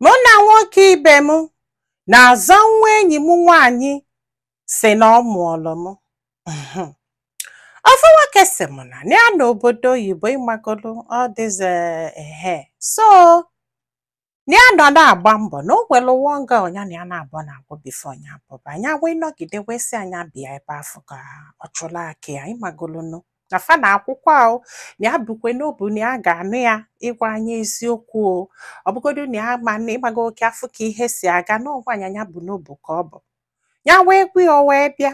mụ na nwoke ibe m na-azọ nwa enyi m nwaanyị si na ọ mụọlụ m ofu nwoke si m na ya nọ obodo oyibo ịmagolu all these ehe so na ya nọ na-agba mbọ na o nwere one girl nya na ya na-abọ na agwọ before nya pụba nya wee nọgide wee sị ya nya bịa ebe afụ ka ọ chụla akị ya ịmagolunu na fa na akwụkwọ ahụ na ya bukwe n'obu na ya ga-anụ ya ịgwa anyị eziokwu o ọ bụgodu na ya ma na ịgbago oke afụ ka ihe si aga n'ọgwa anya ya bu n'obu ka ọ bụ ya wee gwa ya o wee bịa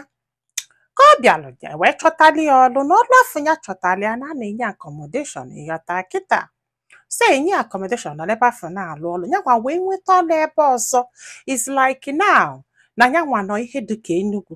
ka ọ bịalụ ya wee chọtali ya ọlụ na ọlụ afụ ya chọtali ya na a na-enye accommodation ịghọta kịta so e nye ya accommodation nọ ebe afụ na-alụ ọlụ ya nwa wee nweta ọlụ ebe ọzọ is like now na ya nwa nọ ihe dịka Enugu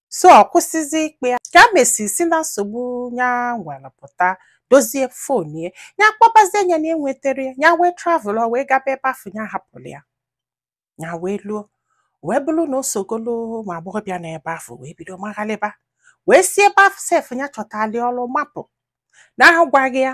so ọ kwụsịzi ịkpọ ya ka a mesi si na nsogbu ya nwere pụta dozie phone ya ya kpọbazie nya na enweterọ ya ya wee travel ọ wee gaba ebe afụ ya hapụrụ ya ya wee luo wee bụrụ na o sogolo ụmụ agbọghọbịa na ebe afụ wee bido maghalịba wee si ebe afụ sef ya chọtali ọrụ mapụ na agwaghị ya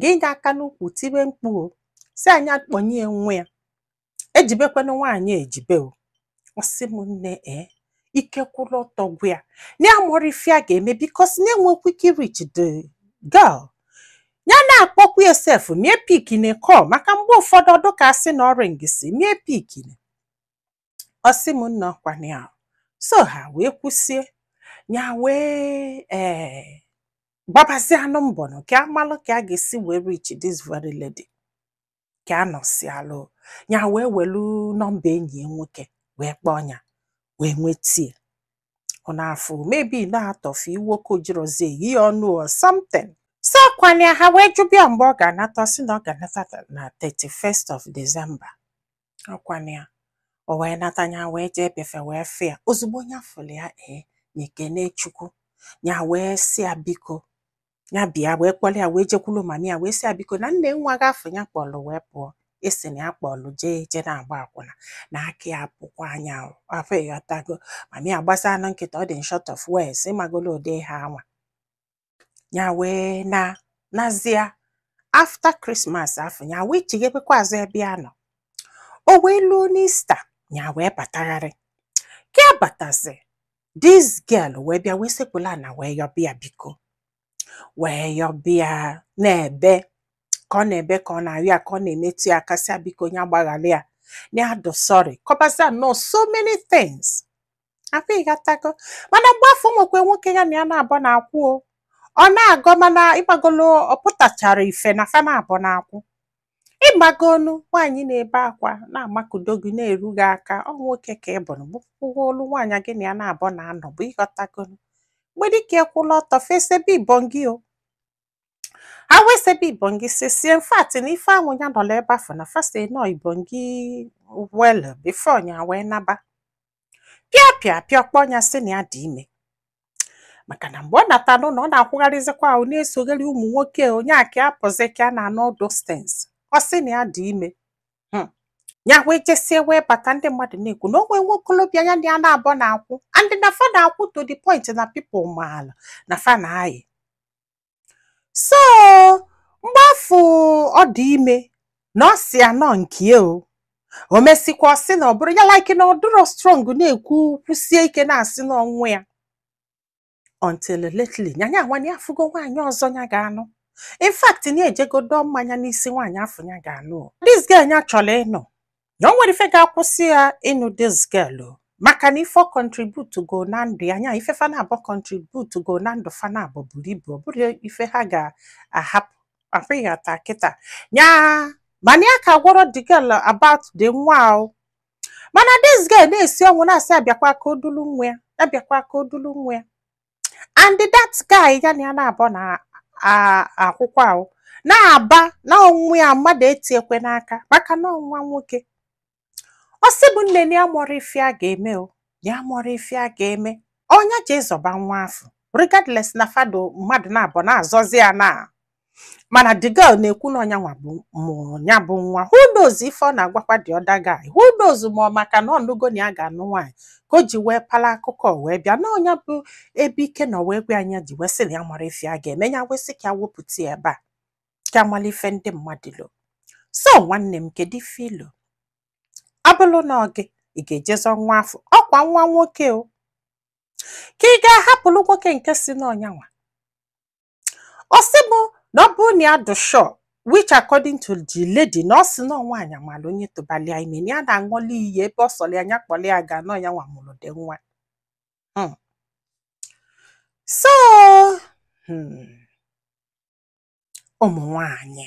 gị nye aka n'ukwu tibe mkpu o sị ya nya kpọnye nwa ya ejibekwana nwaanyị ejibe o ọ sị m nne ee ike kwụrụ ọtọ gwụ ya na ya amarọ ife a ga-eme because nya enwekwa ike reach the girl ya na-akpọkwa ya sef ma ya epickine call maka mgbe ụfọdụ ọ dụ ka a sị na ọ ringịsị ma ya epickine ọ sị m nna ọkwana ya so ha wee kwusie ya wee ee gbabazianụ mbọ nụ ka a malụ ka a ga-esi wee reach this very lady ka a nọsialụ ya wee welu nọmba enyi ya nwoke wee kpọọ ya wee nwetie ọ na-afụ maybe na-atọfe iwe ka o jirọzi eyi ya ọnụ or something so kwanye ha wee jụba ya mgbe ọ ga-anata ọ sị na ọ ga-anata na 31st of December Ọkwana ya. O wee nata ya wee jee be fa wee fụ ya. Ozugbo ya fụrụ ya ee ya ekene Chukwu. Ya wee sị ya biko ya bịa wee kpọrọ ya wee jekwuru mami ya wee sị ya biko na nee nwa gị afụ ya kpọrọ wee pụọ e si na ya kpọrọ jee je na-agba akwụna na aka ya pụkwa nya ahụ ịghọtago mami ya gbasa anụ nkịtị ọ dị in short of words ịmagolo ụdị ihe a nwa ya wee na nazia after Christmas afụ ya wee chighebekwa azụ ebe ya nọ o wee luo n'Easter ya wee batagharị ka ya batazi this girl wee bịa wee sekpulu ana wee yọba ya biko wee yọba ya na-ebe ka ọ na-ebe ka ọ na-arịọ ya ka ọ na-emetụ ya aka sị ya biko ya gbaghara ya na ya dụ sorry kọbazianụ so many things akwa ịghọtago mana mgbe afụ nwekwe nwoke ya na ya naabọ na-akwụ o ọ na-agọ mana ị magolu ọ pụtachara ife na fa naabọ na-akwụ ị magonu nwaanyị na-ebe akwa na-amakudo gị na-eru gị aka ọ nwoke ka ị bụrụ bụkwụgo olu nwaanyị gị na ya naabọ na-anọbu ịghọtagonu mgbe dịka ekwụla ọtọ fa esebe ibongi o ha wee sebe ibongi sisie in fact na ife ahụ ya nọla ebe afụ na fa se nọ ibongi well before ya wee naba pịa pịa pịa ọ kpọọ ya sị na ya dị ime maka na mgbe ọ nata n'ụlọ ọ na-akwụgharịzikwa ahụ na-esogheri ụmụ nwoke nya aka apụzi ka a na-anụ all those things ọ sị na ya dị ime hmm. ya wee jesie wee bata ndị mmadụ na-ekwu na o nwe nwokolobịa ya na ya naabọ na-akwụ and na fa na-akwụ to the point na people maala na fa na-ayị so mgbe afụ ọ dị ime na ọ sị ya na ọ nke ya o o mesịkwa ọ sị na ọ bụrọ ya like na ọ dịrọ strong na-ekwu kwụsie ike na-asị na ọ nwa ya until lately nya nya nwa afụgo nwaanyị ọzọ ya ga-anụ in fact na ejegodo mmanya n'isi nwaanyị afụ ya ga-anụ o. this girl ya chọrọ ịnụ na o nwerọ ife ga-akwụsị ya ịnụ this girl o. maka na ife contribute go na ndụ ya nya ife fa naabọ contribute go na ndụ fa naabọ buru ibu ọ bụrọ ife ha ga-ahapụ apụghị ata kịta nya mana ya aka gwarọ the girl about the nwa o mana this girl na-esi ọnwụ na-asị ya bịakwa ka o dulu nwa ya bịakwa ka o dulu nwa ya and that guy ya na ya naabọ na-akwụkwa ahụ na-aba na ọ nwa ya mmadụ etiekwe n'aka maka na ọ nwa nwoke ọ sị m nne na ya marọ ife ya ga-eme o na ya marọ ife ya ga-eme ọ nya jee ịzọba nwa afụ regardless na fa dị mmadụ naabọ na-azọzi ya na mana the girl na-ekwu na ọ nyanwa mụrụ ya bụ nwa who knows ife ọ na-agwakwa the other guy who knows ma ọ maka na ọ nụgo na ya ga-anụ nwaanyị ka o ji wee pala akụkọ wee bịa na ọ nya bụ ebe ike nọ wee gwụ ya nya ji wee sị na ya marọ ife ya ga-eme ya wee sị ka ya wepụta ya ebe a ka a mala ife ndị mmadụ lo so nwanne m kedu ife i lo ọ bụlụ na ọ gị ị ga-eje zọ nwa afụ ọ kwa nwa nwoke o ka ị ga-ahapụrụ nwoke nke sị na ọ nyanwa ọ sị m na ọ bụrụ na ya dị sure which according to the lady na ọ sị na ọ nwaanyị mala onye tụbali ya ime na ya na-aṅụli iyi ebe ọ sọrọ ya nya kpọrọ ya ga na ọ nyanwa mụrụ the nwa Hmm. so hmm, ụmụ nwaanyị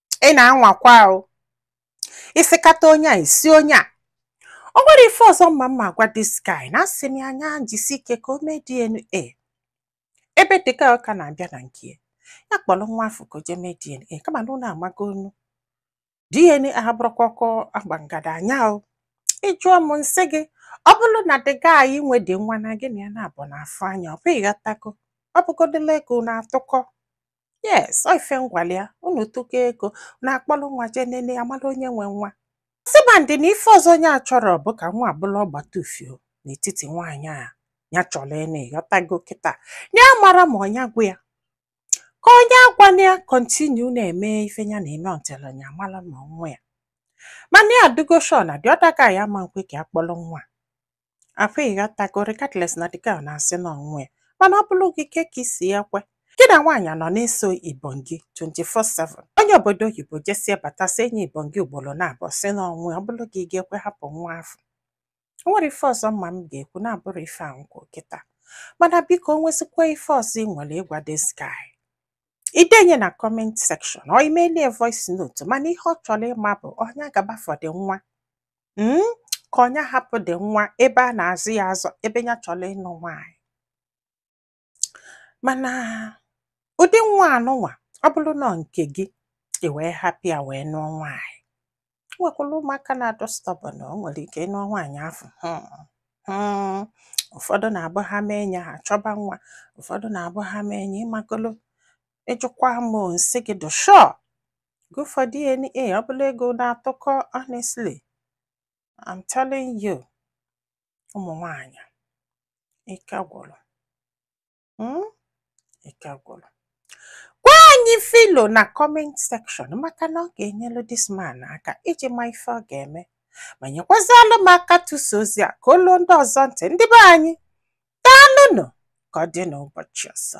ị na-anwakwa o isikata onye a isi onye a o nwerọ ife ọzọ m ma m ma-agwa this guy na asị m ya nya jisi ike ka o mee DNA ebe the girl ka na-abịa na nke ya ya kpọrọ nwa afụ ka o jee mee DNA kama na unu amago ọnụ DNA abụrọkwa ọkụ a gba ngada anya o ị jụọ m nsị gị ọ bụrụ na the guy nwe the nwa na gị na ya naabọ na-afụ anya ọ bụ ịghọtago ọ bụgodịla ego na-atụkọ yes ọ ife ngwali ya unu tụkọ ego na-akpọrọ nwa jee nene ya mara onye nwe nwa sibandị na ife ọzọ nya achọrọ bụ ka nwa a bụlụ ọgbata ufio n'etiti nwaanyị ya chọrọ ịnụ ịghọtago kịta ya amarọ ma ọ nya gwa ya ka ọ nya agwana ya continue na-eme ife ya na-eme until ya mara ma nwa ya mana ya adịgo sure na the other guy ama nkwe ka ya kpọrọ nwa afụ ịghọtago regardless na the girl na-asị na ọ nwa ya mana ọ bụrụ gị ke ka isi ya kwe gị na nwaanyị nọ na-eso ibon gị 24/7 onye obodo oyibo jesie bata sị enyi ibon gị ugboro naabọ sị na ọ nwa ya ọ bụrụ gị ga-ekwe hapụ nwa afụ o nwerọ ife ọzọ m ma m ga-ekwu na-abụrọ ife a nkwu kịta mana biko o nwezikwa ife ọzọ ị nwere ịgwa this guy i denye na comment section or i melie voice note mana ihe ọ chọrọ ịma bụ ọ nya gaba for the nwa mm, ka ọ nya hapụ the nwa ebe a na-azụ ya azụ ebe ya chọrọ ịnụ nwaanyị mana ụdị nwa anụnwa ọ bụrụ na nke gị ị wee hapụ ya wee nụọ nwaanyị nwekwara ụmụaka na-adị stubborn o nwere ike ị nụọ nwaanyị afụ hmm. Hmm, ụfọdụ na-abụ ha mee enyi ha chọba nwa ụfọdụ na-abụ ha mee enyi ịmagolo ị jụkwa m nsị gị dị sure Go for DNA. Ọ bụlụ ego na-atụkọ honestly. I'm telling you. Ụmụ nwanyị. Ike gwụrụ. Hmm? Ike gwụrụ. Gwa anyị ife i lo na comment section maka na ọ ga-enyelu this man aka iji ma ife ọ ga-eme. Ma nyekwazịalụ m aka tụsa ozi a ka o lu ndị ọzọ ntị ndị be anyị. Daalụnụ ka ọ dị n'ụbọchị ọzọ.